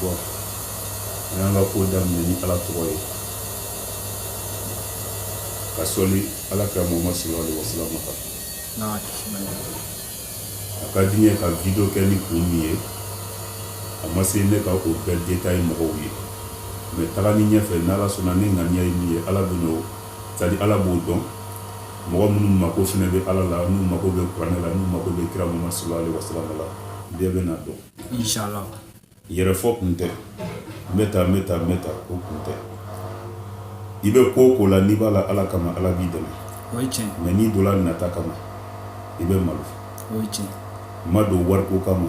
bon an y'an ka ko daminɛ ni ala tɔgɔ ye ka sɔli ala kira muhamadu salalahu alayhi wasalama kan a ka di n ye ka video kɛ ni kun min ye a ma se ne ka o bɛɛ détailler mɔgɔw ye mais taga ni ɲɛfɛ n'ala sɔnna ne ŋaniya ye min ye ala bɛn'o sa ala b'o dɔn mɔgɔ minnu mako fana bɛ ala la n'u mako bɛ kuranɛ la n'u mako bɛ kira muhamadu salalahu alayhi wasalama la bɛɛ bɛ na dɔn yɛrɛfɔ kun tɛ n bɛ taa bɛ taa bɛ taa o kun tɛ i bɛ ko o ko la n'i b'a la ala kama ala b'i dɛmɛ mais n'i donna nata kama i bɛ malo n ma don wari ko kama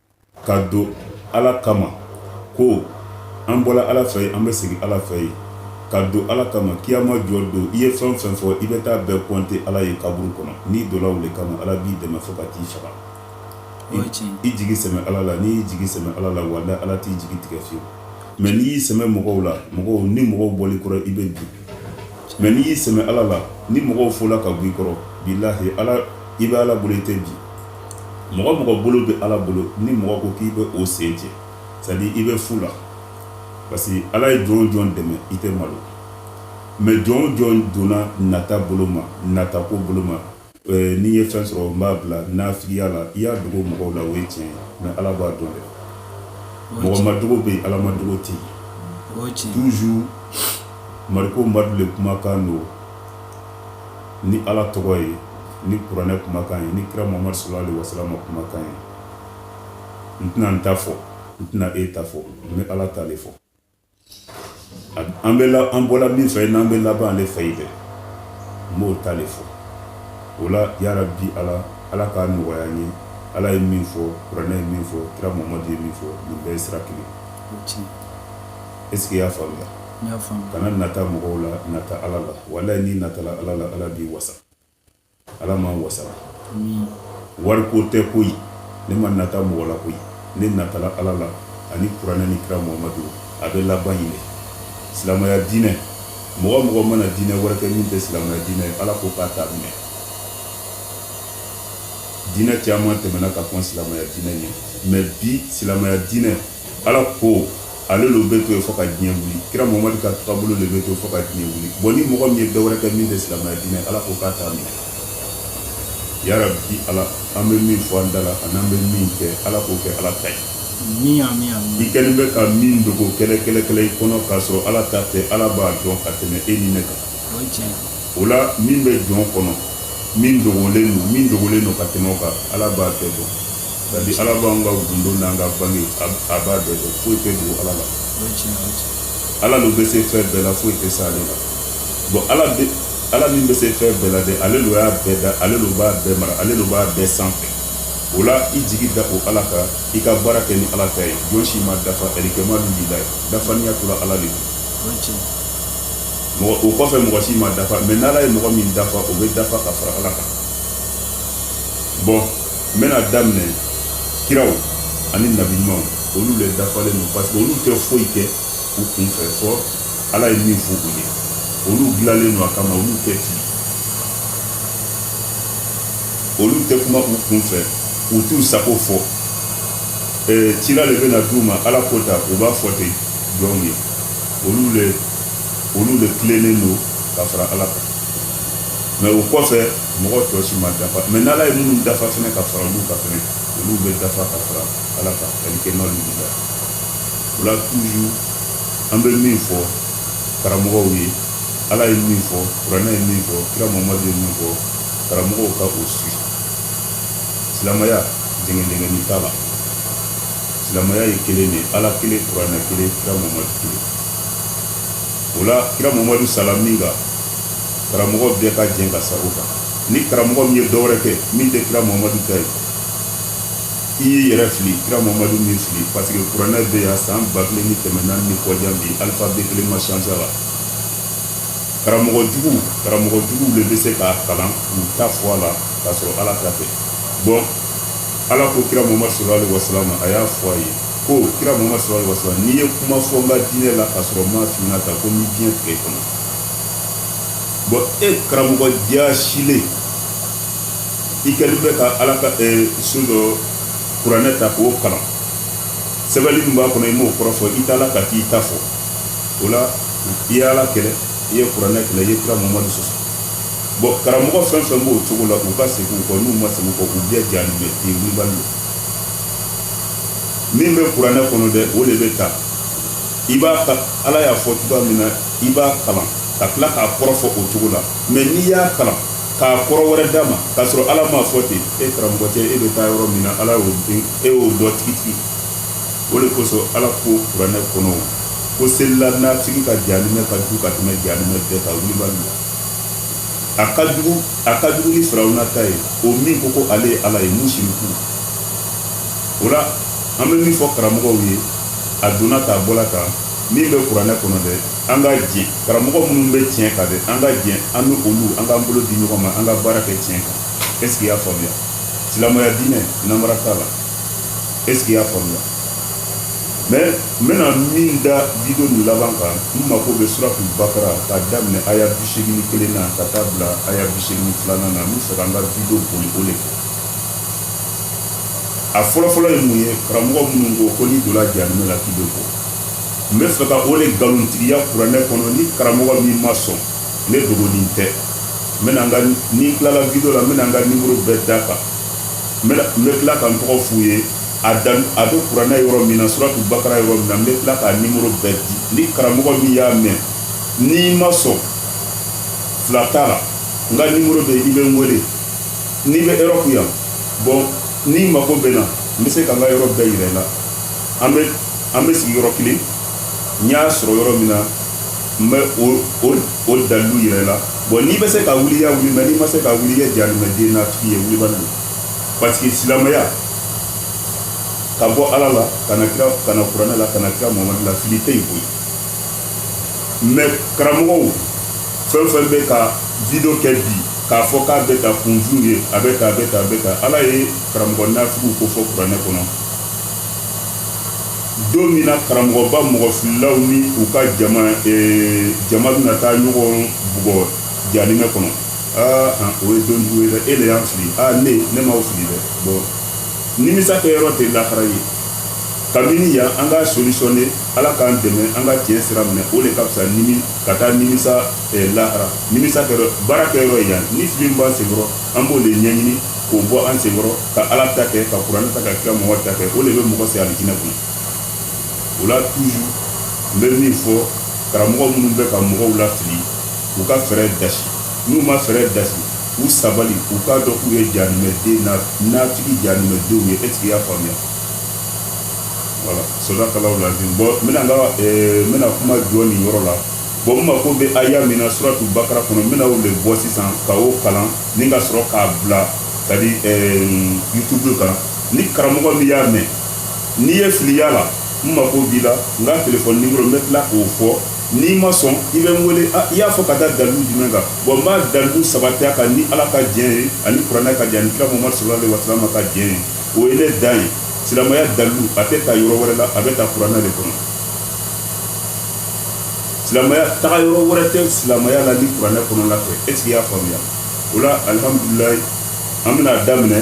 ka don ala kama ko an bɔra ala fɛ an bɛ segin ala fɛ yen ka don ala kama kiyama jɔ don i ye fɛn o fɛn fɔ i bɛ taa bɛɛ compter ala ye kaburu kɔnɔ n'i donna o de kama ala b'i dɛmɛ fo ka t'i faga i jigi sɛmɛ ala la n'i y'i jigi sɛmɛ ala la walayi ala t'i jigi tigɛ fiyewu mais n'i y'i sɛmɛ mɔgɔw la mɔgɔw ni mɔgɔw bɔr'i kɔrɔ i bɛ bin mais n'i y'i sɛmɛ ala la ni mɔgɔw wulila ka b'i kɔrɔ bilayi ala i bɛ ala bolo i tɛ bin mɔgɔ o mɔgɔ bolo bɛ ala bolo ni mɔgɔ ko k'i bɛ o sen cɛ c'est-à-dire i bɛ fu la parce que ala ye jɔn o jɔn dɛmɛ i tɛ malo mais jɔn o jɔn donna nata bolo ma nata ko bolo ma eh, n'i ye fɛn sɔrɔ n b'a bila nafigiya la i y'a dogo mɔgɔw la o ye tiɲɛ mais ala b'a dɔn dɛ mɔgɔ ma dogo bɛ yen ala ma dogo tɛ yen toujours mariko madu le kumakan don ni ala tɔgɔ ye ni kuranɛ kumakan ye ni kira muhamadu salalahu alayhi wasalama kumakan ye n tɛna n ta fɔ n tɛna e ta fɔ n bɛ ala ta de fɔ an bɛ an bɔra min fɛ n'an bɛ laban ale fɛ yen dɛ n b'o ta de fɔ o la yarabi ala ala k'a nɔgɔya n ye ala ye min fɔ kuranɛ ye min fɔ kira muhamadu ye min fɔ nin bɛɛ ye sira kelen est-ce que i y'a faamuya kana nata mɔgɔw la nata ala la walayi n'i natala ala la ala b'i wasa ala ma wasa wari ko tɛ koyi ne ma nata mɔgɔ la koyi ne natala ala la ani kuranɛ ni kira muhamadu a bɛ laban ɲini silamɛya diinɛ mɔgɔ o mɔgɔ mana diinɛ wɛrɛ kɛ min tɛ silamɛya diinɛ ye ala ko k'a t'a minɛ diinɛ caman tɛmɛna ka kɔn silamɛya diinɛ ɲɛ mais bi silamɛya diinɛ ala ko ale de bɛ to yen fo ka diɲɛ wuli kira muhamadu ka taabolo de bɛ to fo ka diɲɛ wuli bon ni mɔgɔ min ye dɔ wɛrɛ kɛ min tɛ silamɛya diinɛ ala ko k'a t'a minɛ yarabi ala an bɛ min fɔ an da la an'an bɛ min kɛ ala k'o kɛ ala ta ye i kɛlen bɛ ka min dogo kɛlɛ kɛlɛ kɛlɛ i kɔnɔ k'a sɔrɔ ala ta tɛ ala b'a dɔn ka tɛmɛ e ni ne kan o la min bɛ jɔn kɔnɔ min dogolen don min dogolen don ka tɛmɛ o kan ala b'a bɛɛ dɔn Sabu ala b'an ka gundo n'an ka bange a b'a bɛɛ dɔn foyi tɛ dogo ala la ala dun bɛ se fɛn bɛɛ la foyi tɛ se ale la bon ala ala min bɛ se fɛn bɛɛ la de ale don y'a bɛɛ da ale don b'a bɛɛ mara ale don b'a bɛɛ sanfɛ o la i jigi da o ala kan i ka baara kɛ ni ala ta ye jɔn si ma dafa alikamalu lilahi dafaniya tora ala de mɔgɔ o kɔfɛ mɔgɔ si ma dafa mɛ n'ala ye mɔgɔ min dafa o bɛ dafa ka fara ala kan bɔn n bɛna daminɛ kiraw ani nabi ɲumanw olu le dafalen don parce que olu tɛ foyi kɛ u kun fɛ fɔ ala ye min fɔ u ye olu dilanlen don a kama olu tɛ fili olu tɛ kuma u kun fɛ u t'u sago fɔ eh, cila le bɛna d'u ma ala ko ta u b'a fɔ ten jɔnw ye olu le olu le tilennen don ka fara ala kan mɛ o kɔfɛ mɔgɔ tɔ si ma dafa mɛ n'ala ye minnu dafa fana ka fara olu kan fana olu bɛ dafa ka fara ala kan alikamalu lila o la tuju an bɛ min fɔ karamɔgɔw ye ala ye min fɔ kuranɛ ye min fɔ kira mamadu ye min fɔ karamɔgɔw ka o suivre silamaya jɛngɛjɛngɛni t'a la silamaya ye kelen de ala kelen kuranɛ kelen kira mamadu kelen o la kira mamadu sala min kan karamɔgɔ bɛɛ ka jɛn ka sa o kan ni karamɔgɔ min ye dɔwɛrɛ kɛ min tɛ kira mamadu ta ye i y'i yɛrɛ fili kira mamadu ma fili parce que kuranɛ bɛ yan san ba kelen ni kɛmɛ naani ni kɔ jan bi alphabet kelen ma changé a la karamɔgɔ jugu karamɔgɔ jugu de bɛ se k'a kalan k'u ta fɔ a la k'a sɔrɔ ala ta tɛ bɔn ala ko kira mamadu sallallahu alaihi wasallam ma a y'a fɔ a ye ko kira mamadu sallallahu alaihi wasallam n'i ye kuma fɔ n ka diinɛ la k'a sɔrɔ n m'a f'i ɲɛna ta ko n b'i biɲɛ tigɛ i kɔnɔ bɔn e karamɔgɔ jaasilen i kɛlen bɛ ka ala ka so dɔ kuranɛ ta k'o kalan sɛbɛnli min b'a kɔnɔ i m'o kɔrɔ fɔ i tila ka t'i ta fɔ o la i ye ala kɛlɛ i ye kuranɛ kɛlɛ i ye kira mamadu sɔsɔ bɔn karamɔgɔ fɛn fɛn b'o cogo la k'u ka segin u kɔ n'u ma segin u kɔ k'u bɛɛ jaabi bɛ ten wulibali don min bɛ kuranɛ kɔnɔ dɛ o de bɛ ta i b'a ta ala y'a fɔ cogoya min na i b'a kalan ka tila k'a kɔrɔ fɔ o cogo la mɛ n'i y'a kalan k'a kɔrɔ wɛrɛ d'a ma k'a sɔrɔ ala m'a fɔ ten e karamɔgɔ cɛ e bɛ taa yɔrɔ min na ala y'o dɔn e y'o dɔn tigitigi o de kosɔn ala ko kuranɛ kɔnɔ ko selila nafigi ka jahanimɛ ka jugu ka tɛmɛ jahanimɛ bɛɛ kan wulibali la a ka jugu a ka jugu ni firawuna ta ye o min ko ko ale ye ala ye musiriku o la an bɛ min fɔ karamɔgɔw ye a donna k'a bɔla kan min bɛ kuranɛ kɔnɔ dɛ an ka diɲɛ karamɔgɔ minnu bɛ tiɲɛ kan dɛ an ka diɲɛ an bɛ olu an k'an bolo di ɲɔgɔn ma an ka baara kɛ tiɲɛ kan est ce que i y'a faamuya silamɛya diinɛ namara t'a la est ce que i y'a faamuya mais n bɛna min da video nin laban kan n mako bɛ suratu bakara k'a daminɛ aya bisegin kelen na ka taa bila aya bisegin filanan na n bɛ fɛ ka n ka video boli o de kan a fɔlɔfɔlɔ ye mun ye karamɔgɔ minnu ko ko n'i donna janimɛ la k'i bɛ bɔ n bɛ fɛ ka o de nkalontigiya kuranɛ kɔnɔ ni karamɔgɔ min ma sɔn ne dogolen tɛ n bɛna n ka ni n tilala video la n bɛna n ka nimoro bɛɛ d'a kan n bɛna n bɛ tila ka n tɔgɔ f'u ye a dan a bɛ kuranɛ yɔrɔ min na suratu bakara yɔrɔ min na n bɛ tila k'a nimoro bɛɛ di ni karamɔgɔ min y'a mɛn n'i ma sɔn fila t'a la n ka nimoro bɛ i bɛ n wele n'i bɛ Europe yan bon n'i mako bɛ na n bɛ se ka n ka yɔrɔ bɛɛ yira i la an bɛ an bɛ sigi yɔrɔ kelen n y'a sɔrɔ yɔrɔ min na n bɛ o dalilu yira i la bon n'i bɛ se k'a wuli i y'a wuli mais n'i ma se k'a wuli i ye janimɛden natigi ye wulibali don parce que silamɛya ka bɔ ala la ka na kira ka na kuranɛ la ka na kira mamadu la fili tɛ yen koyi mais karamɔgɔw fɛn fɛn bɛ ka video kɛ bi k'a fɔ k'a bɛ ka kunju ye a bɛ ka a bɛ ka a bɛ ka ala ye karamɔgɔ nafigiw ko fɔ kuranɛ kɔnɔ don min na karamɔgɔba mɔgɔ fililaw ni u ka jama ee, jama bɛna taa ɲɔgɔn bugɔ janimɛ kɔnɔ aa an, o ye don jugu ye dɛ e de y'an fili aa ne ne m'aw fili dɛ bon nimisa kɛ yɔrɔ tɛ lahara ye kabini yan an ka solutionner ala k'an dɛmɛ an ka tiɲɛ sira minɛ o de ka fisa nimi ka taa nimisa eh, lahara nimisa kɛ yɔrɔ baara kɛ yɔrɔ ye yan ni fili min b'an senkɔrɔ an b'o de ɲɛɲini k'o bɔ an senkɔrɔ ka ala ta kɛ ka kuranɛ ta ka kira mɔgɔ ta kɛ o de bɛ mɔgɔ se alijinɛ kɔnɔ o la toujours n bɛ min fɔ karamɔgɔ minnu bɛ ka mɔgɔw lafili u ka fɛɛrɛ dasi n'u ma fɛɛrɛ dasi u sabali u k'a dɔn k'u ye janimɛden natigi janimɛdenw ye est ce que i y'a faamuya voilà sadakallahul azim bon n bɛna n ka eh, n bɛna kuma jɔ nin yɔrɔ la bon n mako bɛ aya min na suratu bakara kɔnɔ n bɛna o de bɔ sisan ka o kalan ni ka sɔrɔ k'a bila c'est à dire euh, youtube kan ni karamɔgɔ min y'a mɛn n'i ye fili y'a la n mako b'i la n ka telefɔni nimoro n bɛ tila k'o fɔ n'i ma sɔn i bɛ n wele i y'a fɔ ka da dalilu jumɛn kan bon n b'a dalilu sabatiya kan ni ala ka diɲɛ ye ani kuranɛ ka diɲɛ ani kira mamadu sallallahu alaihi wa sallam ka diɲɛ ye o ye ne dan ye silamɛya dalilu a tɛ ta yɔrɔ wɛrɛ la a bɛ ta kuranɛ de kɔnɔ silamɛya taga yɔrɔ wɛrɛ tɛ silamɛya la ni kuranɛ kɔnɔna tɛ est ce que i y'a faamuya o la alihamdulilaahi an bɛna a daminɛ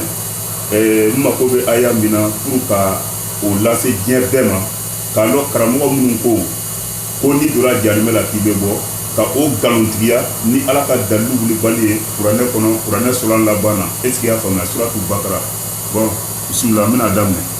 ɛɛ n mako bɛ aya min na pour ka o lase diɲɛ bɛɛ ma k'a dɔn karamɔgɔ minnu ko ko n'i donna janimɛ la k'i bɛ bɔ ka o nkalontigiya ni ala ka dalilu wulibali ye kuranɛ kɔnɔ kuranɛ sɔlan laban na est ce que y'a faamuya suratu bakara bon bisimila n bɛna a daminɛ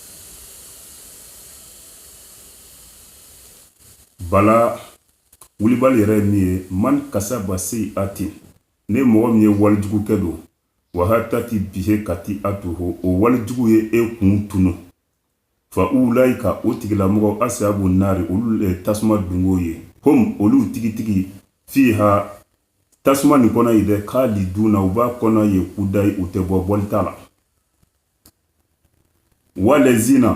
Bala wulibali yɛrɛ ye min ye man kasaba seyi'atan ni mɔgɔ min ye walijugu kɛ don wa ahatati bihi katiyatuhu o walijugu ye e kun tunun fa ulayika o tigilamɔgɔw asabu naari olu de tasuma dunko ye hum olu tigitigi fiha tasuma nin kɔnɔ ye dɛ kaliduna u b'a kɔnɔ ye kudayi u tɛ bɔ bɔli t'a la walazina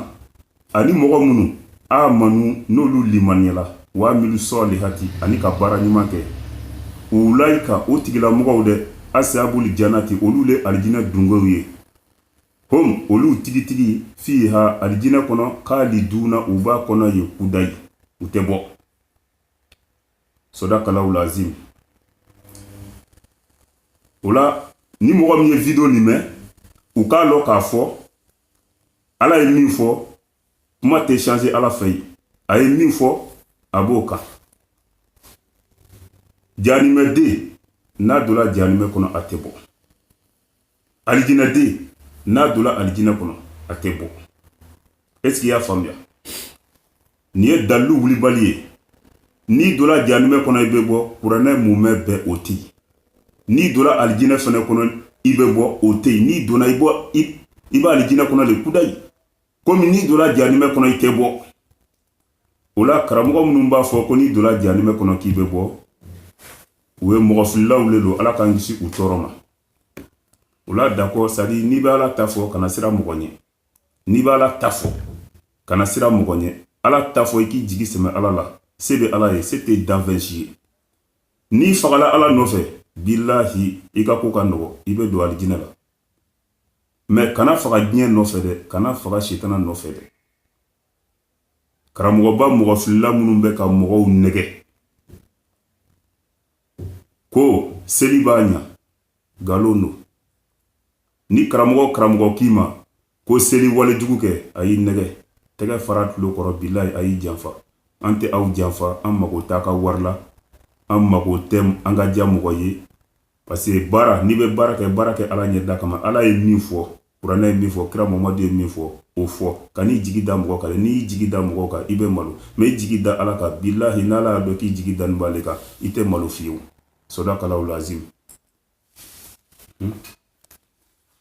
ani mɔgɔ minnu amanu n'olu limaniyala wa amilu sɔlihati ani ka baara ɲuman kɛ ulayika o tigilamɔgɔw dɛ asabuli janati olu de alijinɛ dunkow ye hum olu tigitigi fiha alijinɛ kɔnɔ kaliduna u b'a kɔnɔ ye kudayi u tɛ bɔ sodakalahu lazim o la ni mɔgɔ min ye video nin mɛn u k'a lɔn k'a fɔ ala ye min fɔ kuma tɛ changer ala fɛ yen a ye min fɔ a b'o kan janimɛden n'a donna janimɛ kɔnɔ a tɛ bɔ alijinɛden n'a donna alijinɛ kɔnɔ a tɛ bɔ est-ce qu'i y'a faamuya nin ye dalilu wulibali ye n'i donna janimɛ kɔnɔ i bɛ bɔ kuranɛ mumɛ bɛɛ o tɛ yen n'i donna alijinɛ fana kɔnɔ i bɛ bɔ o tɛ yen n'i donna i b'alijinɛ kɔnɔ de kudayi komi n'i donna janimɛ kɔnɔ i tɛ bɔ o la karamɔgɔ minnu b'a fɔ ko n'i donna janimɛ kɔnɔ k'i bɛ bɔ u ye mɔgɔfililaw de don ala k'an kisi u tɔɔrɔ ma o la d'accord c'est-à-dire n'i bɛ ala ta fɔ kana siran mɔgɔ ɲɛ n'i bɛ ala ta fɔ kana siran mɔgɔ ɲɛ ala ta fɔ i k'i jigi sɛmɛ ala la se bɛ ala ye se tɛ danfɛn si ye n'i fagala ala nɔfɛ bilahi i ka ko ka nɔgɔ i bɛ don alijinɛ la mais kana faga diɲɛ nɔfɛ dɛ kana faga sitana nɔfɛ dɛ karamɔgɔba mɔgɔ filila minnu bɛ ka mɔgɔw nɛgɛ ko seli b'a ɲa nkalon don ni karamɔgɔ karamɔgɔ k'i ma ko seli wale jugu kɛ a y'i nɛgɛ tɛgɛ fara tulo kɔrɔ bilayi a y'i janfa an tɛ aw janfa an mago t'a ka wari la an mago tɛ an ka diya mɔgɔ ye parce que baara n'i bɛ baara kɛ baara kɛ ala ɲɛda kama ala ye min fɔ kuranɛ ye min fɔ kira muhamadu ye min fɔ o fɔ kan'i jigi da mɔgɔ kan n'i y'i jigi da mɔgɔ kan i bɛ malo mɛ i jigi da ala kan bilahi n'ala y'a dɔn k'i jigi danin b'ale kan i tɛ malo fiyewu sadakalahu lazim hmm?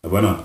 a banna